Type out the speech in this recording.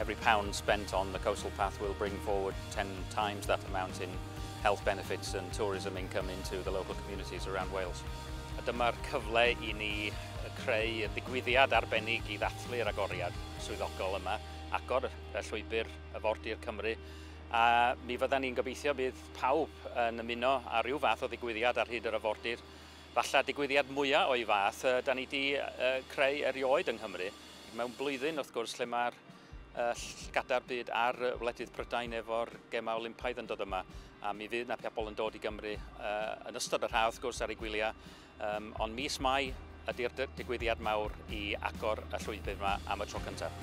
Every pound spent on the coastal path will bring forward 10 times that amount in health benefits and tourism income into the local communities around Wales. A dyma'r cyfle i ni creu y digwyddiad arbennig i ddathlu'r agoriad swyddogol yma, agor y llwybr y Fordir Cymru, a mi fydda ni'n gobeithio bydd pawb yn ymuno ar ryw fath o ddigwyddiad ar hyd yr afordir, falle digwyddiad mwyaf o'i fath da ni wedi creu erioed yng Nghymru. Mewn blwyddyn, wrth gwrs, lle mae'r llgada'r byd ar wledydd Prydain efo'r gemau Olympaidd yn dod yma. A mi fydd na pobl yn dod i Gymru uh, yn ystod yr haf, wrth gwrs, ar ei gwyliau. Um, ond mis Mai ydy'r digwyddiad mawr i agor y llwybr yma am y tro cyntaf.